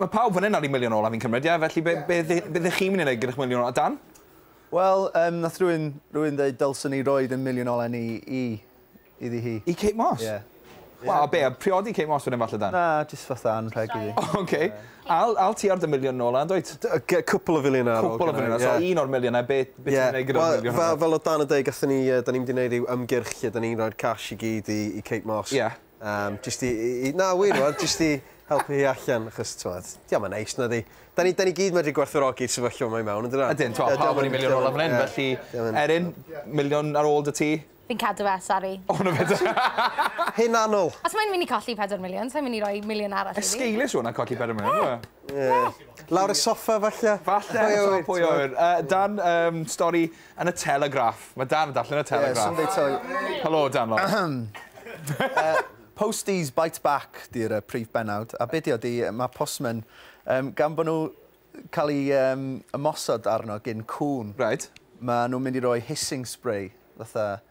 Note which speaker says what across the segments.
Speaker 1: Mae pawb fan 'yn ar 'u miliwn ola fi'n cymryd ie? Felly be' be' dde- be' 'dych chi'n myn' i neud gyda'ch miliwn ola Dan? Wel yym
Speaker 2: nath rywun rywun ddeud dylsen ni roid ein miliwn ola ni i iddi hi. I Kate Moss? Ie.
Speaker 1: Wel a be' a priodi Kate Moss wedyn falle Dan? Na jyst fatha anrheg
Speaker 2: iddi. O oce. Al
Speaker 1: al ti ar dy miliwn ola yndwyt? D- yy ge- cwpwl o filiyne ar
Speaker 3: ôl Cwpwl o filiyne so un o'r
Speaker 1: miliyne be' be' ti'n neud gyda'r miliwn hwnna? Ie wel fel fel odd Dan yn deud gathon
Speaker 3: ni yy 'dan ni mynd i neud ryw ymgyrch lle 'dan ni'n roi'r cash i gyd i i Kate Moss. Ie. Um, just i, i, na, wir, wel, just i helpu hi allan, achos, ti'n di am yn neis, na di. Da ni, da ni gyd medru gwerthorogi'r sefyllfa yma i mewn, yn dyna? Ydyn, ti'n pawb yn miliwn
Speaker 1: ola fan hyn, felly, Erin, miliwn ar ôl dy ti. Fi'n cadw fe, sori.
Speaker 4: O, na fe.
Speaker 1: Hyn
Speaker 3: anol. Os mae'n mynd i colli 4
Speaker 4: miliwn, sa'n mynd i roi miliwn arall i fi. Esgeilus hwnna colli 4 miliwn,
Speaker 1: ie.
Speaker 3: Lawr y soffa, falle. Falle, pwy
Speaker 1: oer. Dan, stori Yn y Telegraph. Mae Dan yn darllen y Telegraph. Ie, Sunday Telegraph. Helo, Dan Lawrence. Posties
Speaker 2: Bite Back 'di'r yy prif bennawd, a be' 'di o 'di ma' postmen yym gan bo' nhw cael eu yym ymosod arno gin cŵn... Reit. ...ma' nhw'n mynd i roi hissing spray fatha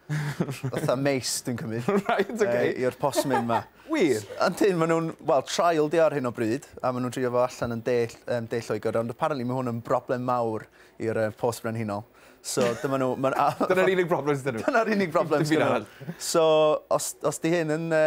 Speaker 2: fatha mace dwi'n cymryd. Right, ok. Yy i'r postman 'ma. Wir? Yndyn,
Speaker 1: ma' nhw'n,
Speaker 2: wel, trial 'di o ar hyn o bryd, a ma' nhw'n drio fo allan yn De yym De Lloegr, ond apparently ma' hwn yn broblem mawr i'r yy Post Brenhinol. So dyma nhw, ma'n a- Dyna'r unig broblem
Speaker 1: sy 'da nhw. Dyna'r unig broblem sy 'da nhw.
Speaker 2: So os os 'di hyn yn yy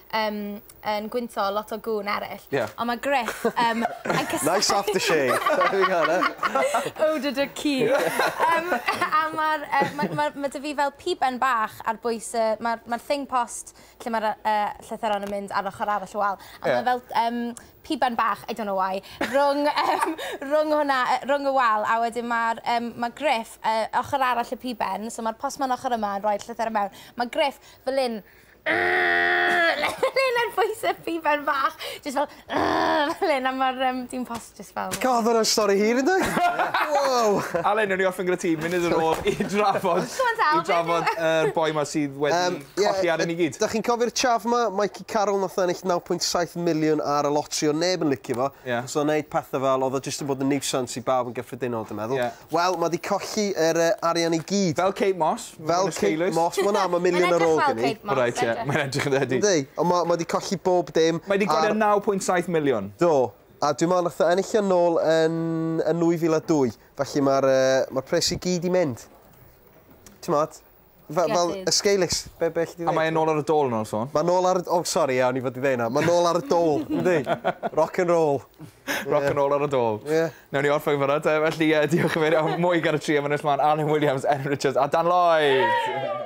Speaker 4: yym yn gwynto lot o gŵn eryll. Ie. Ond mae Griff yym yn cysau... Nice aftershave! Be'
Speaker 3: fi'n galw e?
Speaker 4: Eau de duck cul. Yym a ma'r yy ma' ma' ma' 'da fi fel piben bach ar bwys y ma'r ma'r thing post lle ma'r yy yy llythyron yn mynd ar ochor arall y wal. Ie. A ma' fel yym piben bach I don't know why rwng yym rwng hwnna yy rwng y wal a wedyn ma'r yym ma' Griff yy ochor arall y piben so ma'r postman ochor yma yn rhoi'r llythyr i mewn ma' Griff fel 'yn Lennard voice up i ben bach. Just fel, fel hyn, a mae'r um, dim post just fel... God, hwnna'n stori hir yn
Speaker 3: dweud. wow! Alan, newn ni off yn
Speaker 1: gyda ti, mynd i'r ôl i drafod, i drafod yr boi ma sydd wedi um, yeah, colli ar yn i gyd. Da chi'n cofio'r chaf ma,
Speaker 3: Mikey Carroll nath ennill 9.7 miliwn ar y lotri o neb yn licio fo. Yeah. Os o'n neud pethau fel, oedd o jyst yn bod yn nuisance i bawb yn gyffredinol, dwi'n meddwl. Yeah. Wel, ma 'di colli yr yy arian i gyd. Fel Kate Moss. Fel
Speaker 1: Kate Moss.
Speaker 3: Ma' wnna am y miliwn ar ôl gen i. Mae'n edrych fel Kate Moss. Reit ie, mae'n edrych yn
Speaker 1: ydi. Yndi, ond ma' ma' 'di colli
Speaker 3: bob dim. Mae 'di gwario naw pwynt
Speaker 1: saith miliwn. Do, a dwi
Speaker 3: me'wl nath o ennill o nôl yn yn nwy fil a dwy, felly ma'r yy ma'r pres i gyd 'di mynd. T'mod? Fe- fel Gellir. y sgeilis. Be' be' 'lli di A ddeud? mae e nôl ar y dôl
Speaker 1: nawr sôn. Mae nôl ar y... O sori
Speaker 3: ia o'n i fod i ddeu hynna. Mae nôl ar y dôl yndi? Rock and roll. Rock and roll ar
Speaker 1: y dôl. Ie. Newn ni orffen fanna te felly yy diolch yn fawr iawn Mwy gan y tri am ynnes mlan Alun Williams Erin Richards a Dan Lloyd!